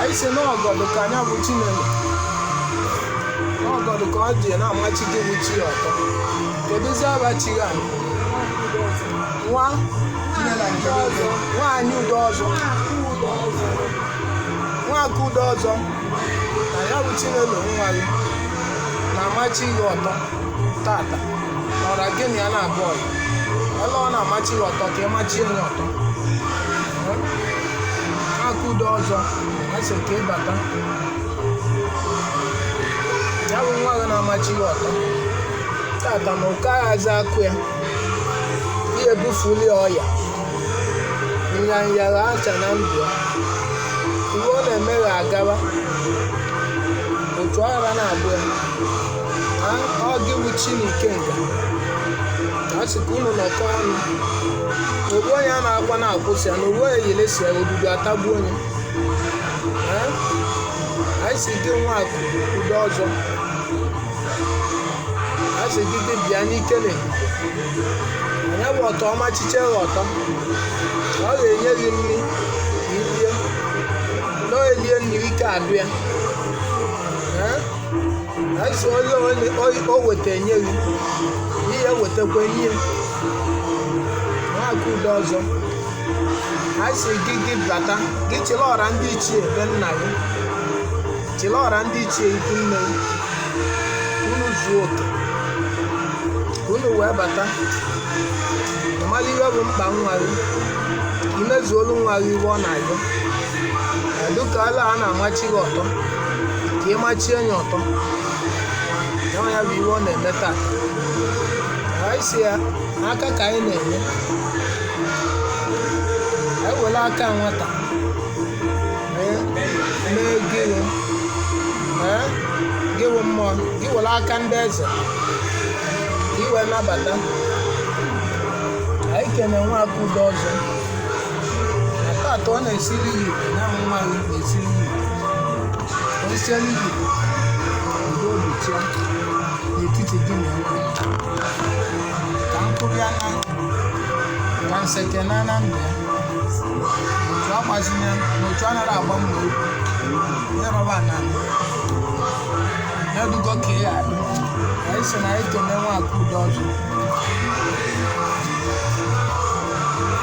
anyị si n'ọgọdụ ka nya bụ chinelo n'ọgọdụ ka ọ dị na-amachi gị bụ chi ọtọ kedụzi abachi ya nwa nwaanyị udo ọzọ nwa akụ udo ọzọ na ya bụ chinelo nwa gị na-amachi gị ọtọ tata nọra gị na ya na-abụ ọyị ele ọ na-amachi gị ọtọ ka ị machie ya ọtọ akụ udo ọzọ a sị ka ị bata ya bụ nwa gị na-amachi ya ọtọ tata na ụka aghazi akụ ya ihe bufuli ọya nyanya acha na ndụ ya ihe ọ na-eme ga-agaba otu aghara na-abụ ya ọ gị bụ chi na ikenga a sị ka unu nọkọ ọnụ na ogbu onye a na-akwa na-akwụsị ya na ogbu onye yelesi ya obibi atagbu onye Ee? anyị si gị nwa akụ udo ọzọ a sị gị gị bịa n'ike na nya bụ ọtọ ọ machiche gị ọtọ ọ ga-enye gị nri ka i rie na e lie nri ike adụ ya Ee? anyị si na o weta enye gị ihe wetakwa enye nwa akụ udo ọzọ anyị si gị gị bata gị chịla ọra ndị ichie be nna gị chịla ọra ndị ichie ikwu nne gị unu zuo oke ka unu wee bata ịmala ihe bụ mkpa nwa gị i mezuolu nwa gị ihe ọ na-ayọ dịka ala a na-amachi gị ọtọ ka ị machie ya ọtọ ya ya bụ ihe ọ na-eme taa anyị si ya aka ka anyị na-enye anyị were aka nwata mee mee gịnị ee gị wụ mmụọ gị were aka ndị eze ka i wee nabata anyị kene nwa akụ udo ọzọ atọ ọ na-esiri gị na nwa gị na-esiri gị o siela gị udo obichia n'etiti gị na nwa ka mkpụrụ ya na ka nseke na na ndụ ya otu agbazinye na otu anaghị agba mma okwu ya rọba na ya dugo ka ya adị anyị si na anyị kene nwa akụ udo ọzọ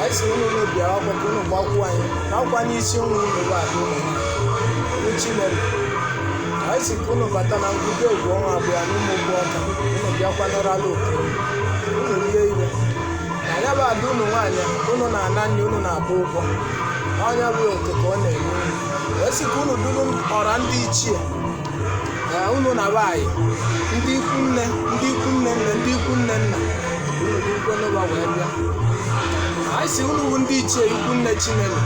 anyị si unu unu bịawa oku ka unu gbakwuo anyị na ọkwa n'isi ụmụ unu bụ ada unu nwaanyị chinelo anyị si ka unu bata na ngwụta egwu ọnwa abụọ na ụmụ ụgbọ ọka unu bịakwa nọrọ ala oke unu rie ire na ya bụ ada unu nwaanyị unu na-ana nri unu na-agba ụgwọ ọ nya bụ oke ka ọ na-enye unu wee sị ka unu duru ọra ndị ichie unu na ha yi ndị ikwu nne ndị ikwu nne nne ndị ikwu nne nna unu dịkwanụ ụba wee bịa anyị si unu bụ ndị ichie ikwu nne chinelo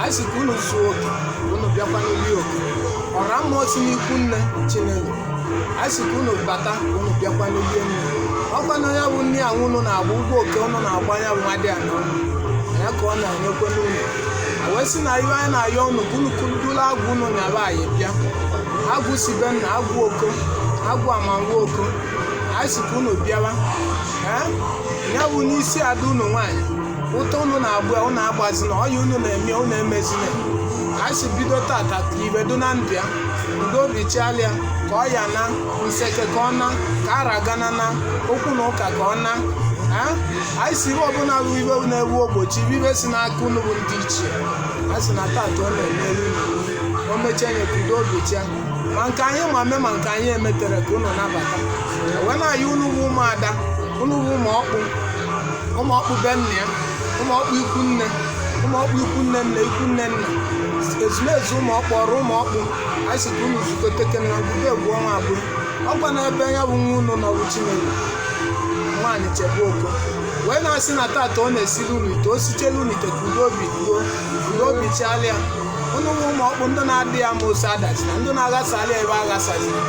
anyị si ka unu zuo oke unu bịakwanụ rie oke ọra mmụọ si n'ikwu nne chinelo anyị si ka unu bata unu bịakwanụ rie nni ọkwa na ya bụ nni ahụ unu na-agba ụgwọ oke unu na-agba ya bụ nwa dị ya na unu ya ka ọ na-enyekwanụ unu wee sị na ihe anyị na-ayọ unu ka unu kudulu agwụ unu na fa yi bịa agwụ si be nna agwụ oko agwụ amanwụ oko anyị si ka unu bịawa ee ya bụ n'isi ada unu nwaanyị ụta unu na-agba ya unu agbazina ọya unu na-eme ya unu emezina anyị si bido tata ka ihe dị na ndụ ya udo obi chịala ya ka ọya na nseke ka ọ naa ka ara gana na okwu na ụka ka ọ naa ee anyị si ihe ọbụla bụ ihe na-ewu ogbochi bụ ihe si n'aka unu bụ ndị ichie anyị sị na tata ọ na-emeri o mechaa nye ka udo obi chịa ma nke anyị ma eme ma nke anyị emetere ka unu nabata wee na-ayọ unu bụ ụmụada unu bụ ụmụ ọkpụ ụmụ ọkpụ be nna ya ụmụ ọkpụ ikwu nne ụmụ ọkpụ ikwu nne nna ikwu nne nna ezumezu ụmụ ọkpụ ọra ụmụ ọkpụ anyị si ka unu zukọteke na ngwụbe egwu ọnwa abụọ ọkwa n'ebe ya bụ nwa unu nọ bụ chinelo nwaanyị chebe oko wee na-asị na tata ọ na-esiri unu ite o sichela unu ite ka udo obi chịala ya unu nwa ụmụ ọkpụ ndị na-adị ya ma ose adazina ndị na-aghasala ya ihe aghasazina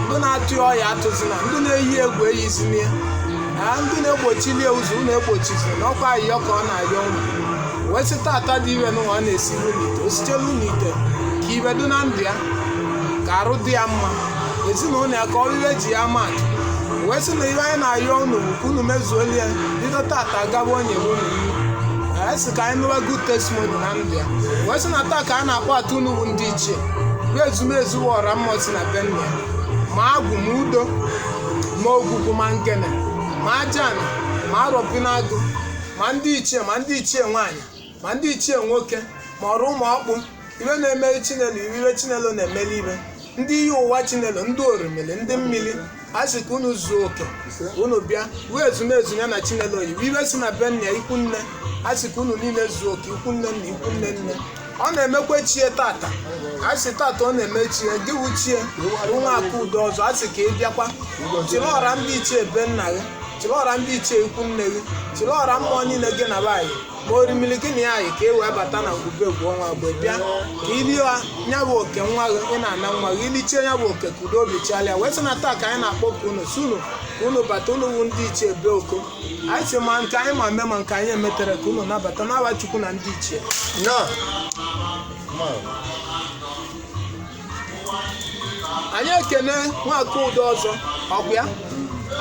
ndị na-atụ ya ọya atụzina ndị na-eyi egwu eyizina ya ndị na-egbochili ya ụzọ unu egbochizina na ọkwa ayịyọ ka ọ na-ayọ unu wee sị tata dị ihe n'ụwa ọ na-esiri unu ite o sichela unu ite ka ihe dị na ndụ ya ka arụ dị ya mma ezinụlọ ya ka ọ bụ ihe e ji ya ama atụ wee sị na ihe anyị na-ayọ unu bụ ka unu mezuolu ya bido tata gaba onye bụ unu iwu anyị sị ka anyị nụwa good testimony na ndụ ya wee sị na taa ka anyị na-akpọta unu bụ ndị ichie bụ ezumezu ọra mmụọ si na be nna ya ma agwụ ma udo ma ogwugwu ma ngene ma ajana ma arọbịnagụ ma ndị ichie ma ndị ichie nwaanyị ma ndị ichie nwoke ma ọra ụmụ ọkpụ ibe na-emeli chinelo ive ibe chinelo na-emeli ive ndị iyi ụwa chinelo ndị orimili ndị mmiri a sị ka unu zuo oke unu bịa wee ezumezu ya na chinelo iwe iwe si na be nna ya ikwu nne a sị ka unu niile zuo oke ikwu nne nna ikwu nne nne ọ na-emekwa chie tata a sị tata ọ na-eme chie gị wụ chie nwa akudo ọzọ a sị ka ị bịakwa chịrị ọra ndị ichie be nna gị chịrị ọra ndị ichie ikwu nne gị chịrị ọra mmụọ niile gị na be anyị ma orimili gị na ya anyị ka e wee bata na ngwube egwu ọnwa mgbe bịa ka i lie nya bụ oke nwa gị ị na-ana nwa gị i lichie nya bụ oke ka udo obi chịalịa wee sị na taa ka anyị na-akpọ ka unu si unu ka unu bata unu wu ndị ichie be oko anyị si ma nke anyị ma eme ma nke anyị emetere ka unu nabata n'aba chukwu na ndị ichie nọ anyị ekene nwa akudo ọzọ ọkwa ya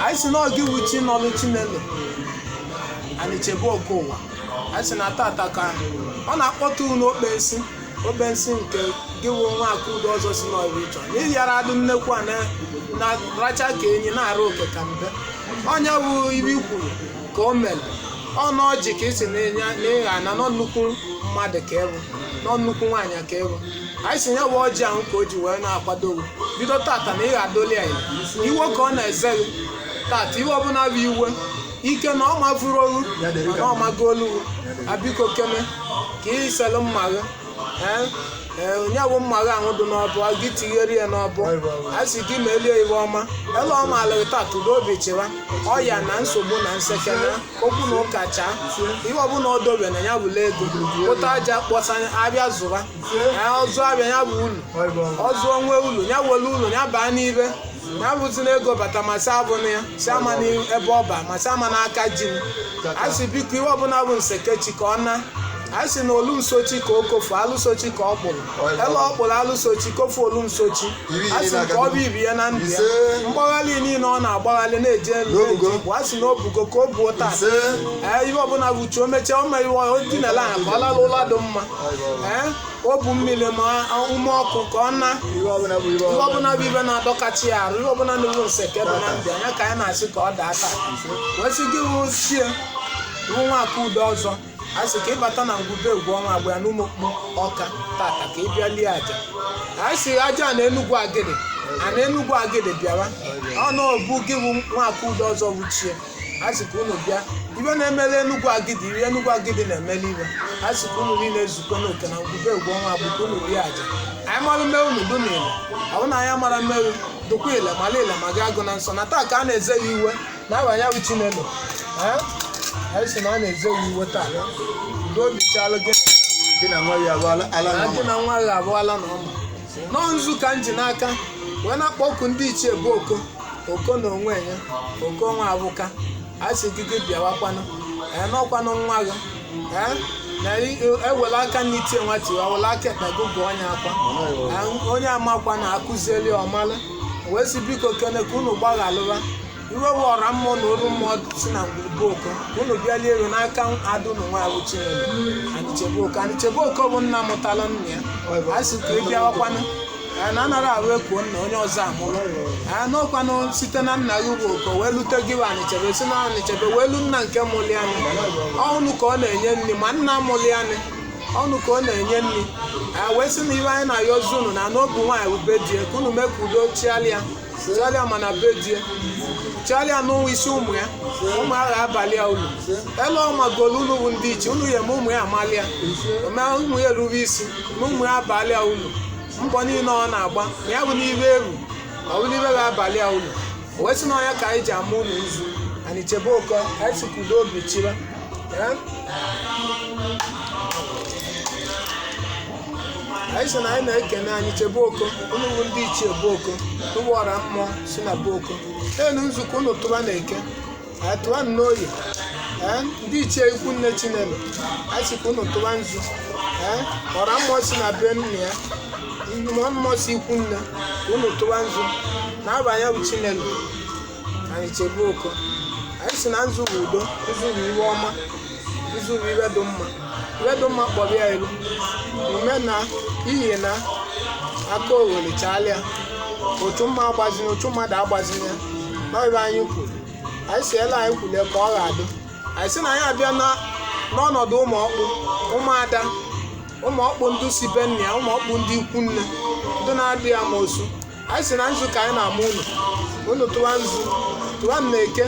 anyị si na ọ gị wụ chi nọlụ chinelo anyị chebe oke ụwa anyị si na tata ka ọ na-akpọtụ unu okpensi okpensi nke gị wụ nwa akudo ọzọ sị n'ọrụ ịchọ n'ihi yara adị nnekwu a na-aracha ka enyi na-arụ oke ka mbe onye wụ ive i kwuru ka o mere ọnụ ọjị ka isi na ịgha na n'ọ nnukwu mmadụ ka ị wụ n'ọ nnukwu nwaanyị ka ị wụ anyị sị nya bụ ọjị ahụ ka o ji wee na-akwado gị bido tata na ị ga-adoli ya elu. ive ka ọ na-eze gị tata ive ọbụla bụ ive ike na ọ mavụrụ olu na ọ mago olu gị. a biko kene ka ị selụ mma gị ee ee nya bụ mma gị ahụ dị n'ọbọ a gị tinyere ya n'ọbọ a sị gị melie ive ọma elu ọma alụghị tata udo obi chịwa ọya na nsogbu na nsekere okwu na ụka chaa ive ọbụla o dobe na ya bụla ego ụta aja kpọsa a bịa zụba ọzụ abịa ya bụ ulu ọzụ o nwee ulu ya were ulu ya baa n'ive ya bụzi na ego bata ma sị abụ na ya sị ama n'ebe ọ ba ma sị ama n'aka ji m a sị biko ihe ọbụla bụ nsekechi ka ọ na a sị na olu nsochi ka o kofu alụsochi ka ọ kpụrụ ebe ọ kpụrụ alụsochi kofu olu nsochi a sị nke ọ bụ ibi ya na ndụ ya mgbagharị niile ọ na-agbagharị na-eje elu na-eje igbo a sị na o bugo ka o buo taa ee ihe ọbụla bụ uche o mechaa o mere ive o dinala ahụ ka ọ lara ụla dị mma ee o bu mmiri ma ume ọkụ ka ọ na ihe ọbụla bụ ive ihe ọbụla ọbụla bụ ive na-adọkachi ya arụ ihe ọbụla na-ewu nseke dị na ndụ nya ka anyị na-asị ka ọ daa taa wee sị gị wụ chie wụ nwa akudo ọzọ a sị ka ị bata na ngwube egwu ọnwa agba ya n'ụmụọkpụ ọka tata ka ị bịa lie aja anyị sị aja na enugwu agidi a na enugwu agidi bịawa ọnụ obu gị wụ nwa akudo ọzọ wuchie a sị ka unu bịa ibe na-emele enugwu agidi iri enugwu agidi na-emele ibe a sị ka unu niile ezukọ n'oke na ngwube egwu ọnwa bụ ka unu rie aja anyị mara mmewu na udo na ile ọ bụ na anyị mara mmewu dụkwa ile mara ile ma gị agụ na nsọ na taa ka a na-eze ya iwe n'aba ya bụ chinelo ee anyị sị na a na-eze ya iwe taa udo obi chịalụ gị gị na nwa gị abụọla ala na na gị ọma na nwa gị abụọla na ọma nọọ nzu ka m ji n'aka wee na-akpọku ndị ichie be oko oko na onwe ya oko nwa abụka a sị gị gị bịawakwanụ ee n'ọkwanụ nwa gị ee na i- ewela aka nni tie nwata iwe wela aka ekpe gụgụọ nya akwa Ee, onye amakwana akụzieli ọ malụ wee sị biko kene ka unu gbaghalụwa iwe bụ ọra mmụọ na olu mmụọ si na ngwuru be oko unu bịali elu n'aka ada unu nwa a bụ chinelo anichebe oko anichebe oko bụ nna mụtara nna ya a sị ka ị bịawakwanụ anyị na anaghị ahụ ekuo nna onye ọzọ amụrụ anyị n'ọkwanụ site na nna gị bụ oko wee lute gị bụ anichebe si na anichebe wee lu nna nke mụli anyị ọnụ ka ọ na-enye nri ma nna mụli anyị ọnụ ka ọ na-enye nri anyị wee sị na iwe anyị na-ayọzi unu na n'obu nwaanyị bụ be di e ka unu mee ka udo chịalịa chịalịa ma na be di ya chịalịa n'ụwa isi ụmụ ya ụmụ a ga-abalị ya ulu ele ọma golu unu bụ ndị ichie unu ya ma ụmụ ya amalị ya mee ụmụ ya erube isi ma ụmụ ya abalị ya ulu mbọ niile ọ na-agba ma ya abụna ibe ewu ọ bụ n'ibe ga-abalị ya ulu o wee sị na ọ nya ka anyị ji ama unu nzu anichebe oko anyị sị ka udo obi chịba Eh? anyị sị na anyị na-ekene anichebe oko unu bụ ndị ichie be oko unu bụ ọra mmụọ si na be oko enu nzu ka unu tụba na eke ee tụba n'oye ee ndị ichie ikwu nne chinelo anyị sị ka unu tụba nzu ee ọra mmụọ si na be nna ya mmụọ mmụọ si ikwu nne ka unu tụba nzu n'aba ya bụ chinelo anichebe oko anyị sị na nzu bụ udo nzu bụ iwe ọma nzu bụ iwe dị mma iwe dị mma kpọrọ ya elu ume na iyi na akaogheli chaalịa uchu mmụọ agbazina uchu mmadụ agbazina n'ọrịa anyị kwuru anyị sị ele anyị kwule ka ọ ga-adị anyị sị na anyị abịa na- n'ọnọdụ ụmụ ọkpụ ụmụada ụmụ ọkpụ ndị si be nna ya ụmụ ọkpụ ndị ikwu nne ndị na-adị ya ma osu anyị sị na nzu ka anyị na-ama unu unu tụwa nzu tụwanụ na eke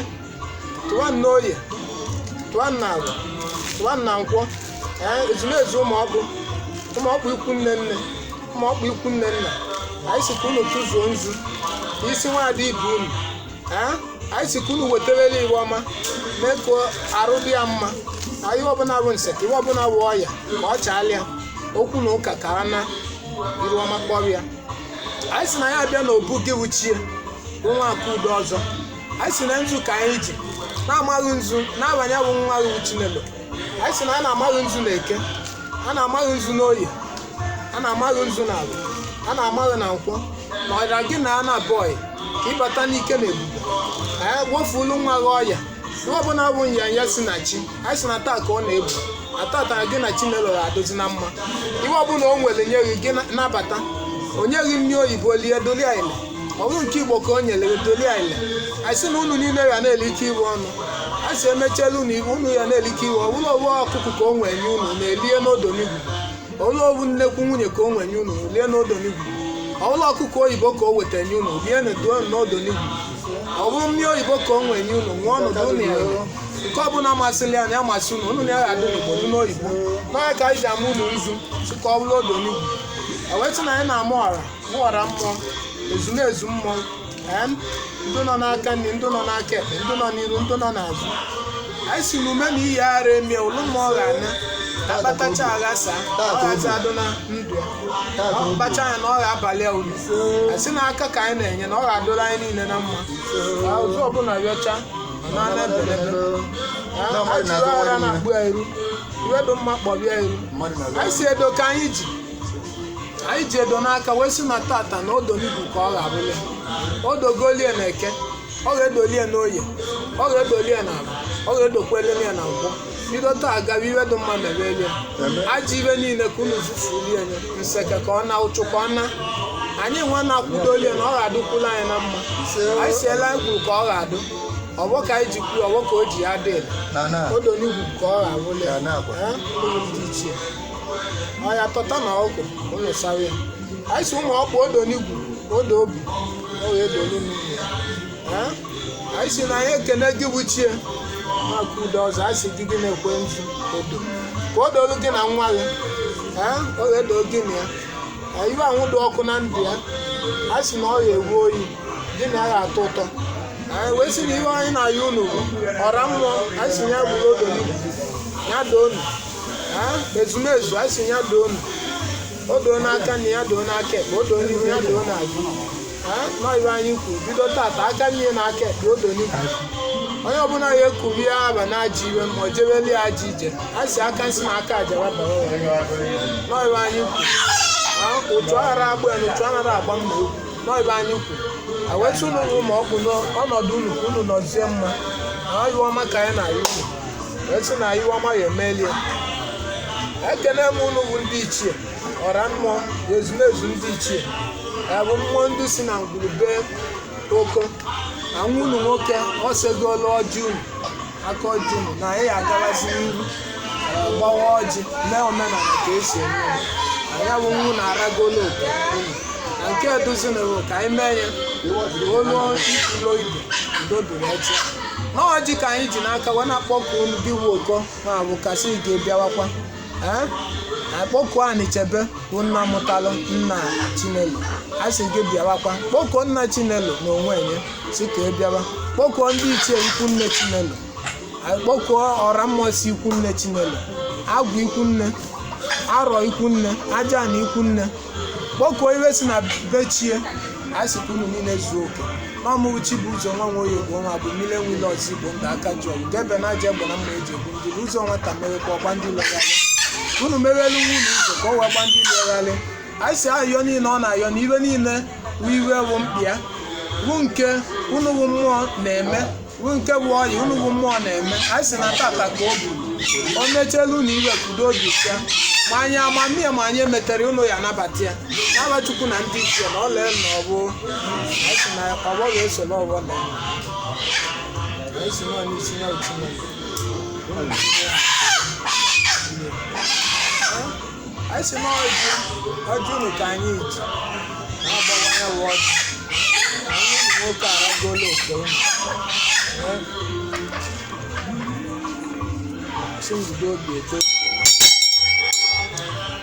tụwanụ na oye tụwanụ na awọ tụwanụ na nkwọ ee ezumezu ụmụ ọkpụ ụmụ ọkpụ ikwu nne nne ụmụ ọkpụ ikwu nne nna anyị sị ka unu tụzuo nzu n'isi nwaada ibe unu ee anyị sị ka unu weteweli iwe ọma mee ka arụ dị ya mma ka iwe ọbụna bụ nseke iwe ọbụna bụ ọya ka ọ chaalịa okwu na ụka ka a na iru ọma kpọrọ ya anyị sị na anyị abịa n'obu gị wụ ichie nwa Akudo ọzọ anyị sị na nzu ka anyị ji na-ama gị nzu n'aha nya bụ nwa gị wụ Chinelo anyị sị na a na-ama gị nzu na eke a na-ama gị nzu n'oye a na-ama gị nzu na afọ a na-ama gị na nkwọ na ọra gị na a na-abụghị ka ịbata n'ike na ebube anyị wefulu nwa gị ọya ihe ọbụla bụ nyanya si na chi anyị sị na taa ka ọ na-ebu atata gị na Chinelo ga-adụzi na mma ihe ọbụla o nwere nye gị gị nabata o nye gị nri oyibo lie dolu ya ile. ọ bụrụ nke igbo ka o nyere gị dolu ya ile. anyị sị na unu niile ga na-elikọ ihe ọnụ a sị emechela unu iwu unu ya na-elikọ ihe ọ bụrụ ọ bụ ọkụkọ ka o nwee nye unu na-elie n'odo n'igwu Ọ bụrụ ọ wụ nnekwu nwunye ka o nwee nye unu lie n'odonigwu? Ọ bụrụ ọkụkọ oyibo ka o weta nye unu lie n'eduo n'odonigwu? Ọ bụrụ mmiri oyibo ka o nwee nye unu ṅụọ ọnọdụ unu ero. Nke ọbụla masịrị ya na ya masị unu unu na ya ga-adị n'Igbo dị n'oyibo. Na ọ ya ka anyị ji ama unu nzu sị ka ọ bụrụ odonigwu. Ewetụ na anyị na-ama ọra mmụọ, ọra mmụọ, ezumezu mmụọ, ndị nọ n'aka nri ndị nọ n'aka ekpe ndị nọ n'iru ndị nọ n'azụ anyị sị na ume na iyi ara emie ụlụ mmụọ ga-ana akpatacha aghasa ọ ghazi adụ na ndụ ya ọ kpacha ya na ọ ga-abalị ya ulu a sị na aka ka anyị na-enye na ọ ga-adụrụ anyị niile na mma ka ụzọ ọbụla rịọcha na ana ebelebe ajụrụ ara na-akpọ ya iru ihe dị mma kpọba ya iru anyị sị edo ka anyị ji anyị ji edo n'aka wee sị na tata na odonigwu ka ọ ga-abụli o dogolie na eke ọ ga-edolie na oye ọ ga-edolie na afọ ọ ga-edokwelie na nkwọ bido taa gawa ihe dị mma mebelie ajọ ihe niile ka unu zufulie nye nseke ka ọ na ụchụ ka ọ na anyị nwa na-akwụdolie na ọ ga-adụkwula anyị na mma anyị siela anyị kwuru ka ọ ga-adụ ọgbọ ka anyị ji kwuru ọgbọ ka o ji ya dị odonigwu ka ọ ga-abụli ya ndị ichie ọya tọta na ọgwụ ụlọ sawa ya anyị sị ụmụ ọkpụ odo n'igwu odo obi ọ ga-edolu ya anyị sị na anyị ekene gị bụ ichie nwa Akudo ọzọ anyị sị gị gị na-ekwe nzu odo ka o dolu gị na nwa gị ee ọ ga-edo gị na ya ihe anwụ dị ọkụ na ndụ ya anyị sị na ọ ya ewu oyi gị na ya atọ ụtọ anyị wee sị na ihe anyị na-ayọ unu bụ ọra mmụọ anyị sị ya bụrụ odo n'igwu ya doo unu Ah, ezumezu a sị ya doo unu. o doo n'aka nri ya doo n'aka ekpe o doo n'ihu ya doo n'azụ Ah, na ọ ihe anyị kwuru bido tata aka nri na aka ekpe o doo n'ihu onye ọbụla ya ekuru ya aba na ajọ ihe ma o jebeli ya ajọ ije a sị aka nsi na aka aja wabara ụwa ya. na ọ ihe anyị kwuru Ah, ụtụ aghara agba ya na ụtụ anaghị agba mma ekwu na ọ ihe anyị kwuru awetụ ụlọ ụmụ ọgwụ n'ọnọdụ unu ka unu nọzie mma na ihe ọma ka anyị na-ayọ unu wee sị na iwe ọma ya emelie ekene m unu bụ ndị ichie ọra mmụọ na ezumezu ndị ichie ya bụ mmụọ ndị si na ngwurube oko na nwa unu nwoke ọ segolu ọjị unu aka ọjị unu na anyị agabazi n'ihu ee, gbawa ọjị mee omenala ka e si eme ya. na ya bụ nwa unu aragolo oke unu na nke edozinawo ka anyị mee ya olu ifulo ibe udo dịrị echi n'ọjị ka anyị ji n'aka wee na-akpọku unu gị wu oko ma bụ ka a sị gị bịawakwa ee akpọkuo Anichebe bụ nna mụtalụ nna Chinelo a sị gị bịawakwa kpọkuo nna Chinelo na onwe nye sị ka ị bịawa kpọkuo ndị ichie ikwu nne Chinelo kpọkuo ọra mmụọ si ikwu nne Chinelo agwụ ikwu nne arọ ikwu nne ajana ikwu nne kpọkuo iwe si na bechie a sị ka unu niile zuo oke na ọmụrụ chi bu ụzọ nwa nwoye bụ nwa bụ mmiri enwile ọzọ igbo ndị aka ji ọgụ ga ebe na aja egbe na mma e ji egbu ndị bu ụzọ nwata mere ka ọgba ndị legharị ka unu merelu nwa unu ụzọ ka ọ wee gba ndị legharị anyị sị ayọ niile ọ na-ayọ na iwe niile wụ iwe wụ mkpịa wụ nke unu wụ mmụọ na-eme bụ nke bụ ọyị unu bụ mmụọ na-eme anyị sị na tata ka o biri o mechela unu iwe ka udo obi sịa ma anyị amamihe ma anyị emetere unu ya a nabata ya n'ava Chukwu na ndị ichie na ọla elu na ọ bụ anyị sị na ọgbọ ga-esoro ọgbọ na ya. anyị sị na ọ n'isi ya otu na ya. anyị sị na ọjị ọjị unu ka anyị ji na-agbawa ya bụ ọjị anyị ụmụ nwoke aragolo oke unu Ee. Asị m bido obi eto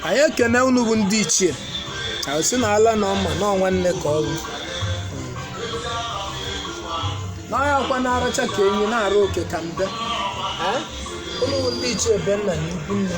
anyị ekene unu bụ ndị ichie anyị sị na ala na ọma na nwanne ka ọ bụ n'ọhịa akwa na-aracha ka enyi na-arụ oke ka mbe Ee? unu bụ ndị ichie be nna na ikwu nne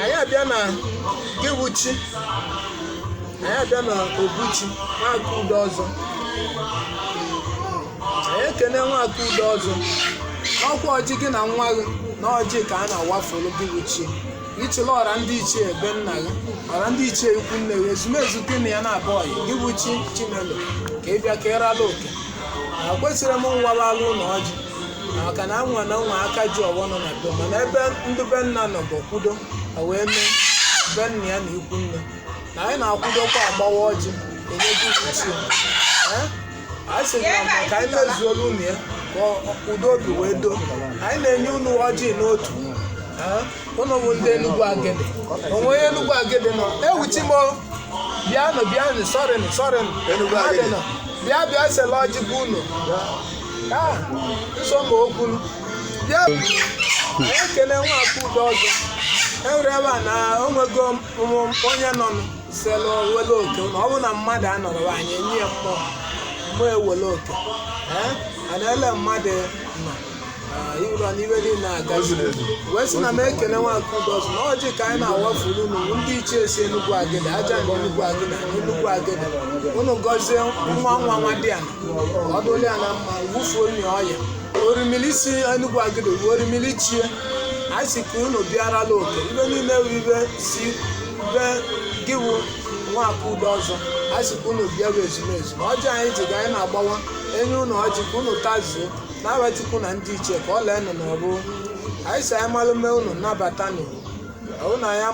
anyị abịa na gị wụ chi anyị abịa na obu chi Nwaka Udeọzọ anyị ekene Nwaka Udeọzọ ọ kwa ọjị gị na nwa gị na ọjị ka a na-awafuru gị wụ chi ị chịla ọra ndị ichie be nna gị ọra ndị ichie ikwu nne gị ezumezu gị na ya na-abụ ọyị gị wụ chi Chinelo ka ị bịa ka ị rala oke a kwesịrị m nwa ralụ na ọjị maka na nwa na nwa aka ji ọwọ nọ na be mana ebe ndị be nna nọ bụ kwudo ha wee mee be nna ya na ikwu nne na anyị na-akwụdokwa agbawa ọjị enye gị wụ chi anyị sị na ma ka anyị mezuolu unu ya ka ọ- udo obi wee doo anyị na-enye unu ọjị n'otu Eh, unu bụ ndị Enugu Agidi o nwe onye Enugu Agidi nọ ewuchi m o. bịanụ bịanụ sọrịnụ sọrịnụ Enugu Agidi. Mmadụ nọ. bịa bịa sela ọjị bụ unu ekele nwaka udo ọzọ enwere ebe a na onwego onye nọ selụ wele oke na ọ bụ na mmadụ anọrọ anyị enye ya mmụọ mmụọ ewele oke a na-ele mmadụ nọ ịrọ n'iwe dị na-agazi wee sị na m ekele nwaka udo ọzọ na ọjị ka anyị na-awafuru unu ndị ichie si Enugu Agidi Ajana Enugu Agidi Enugu Agidi unu gọzie nwa nwa nwadịala ọ dịlị ya na mma wufuo nri ọya orimili si Enugu Agidi wuo orimili chie anyị si ka unu bịarala oke ibe niile wụ ibe si be gị wụ nwaka udo ọzọ anyị si ka unu bịawa ezumezu na ọjị anyị ji ga anyị na-agbawa enye unu ọjị ka unu tazuo n'aba Chukwu na ndị ichie ka ọ lee nụ n'ọrụ anyị si anyị malụ mee unu nabata nụ unu anyị ama-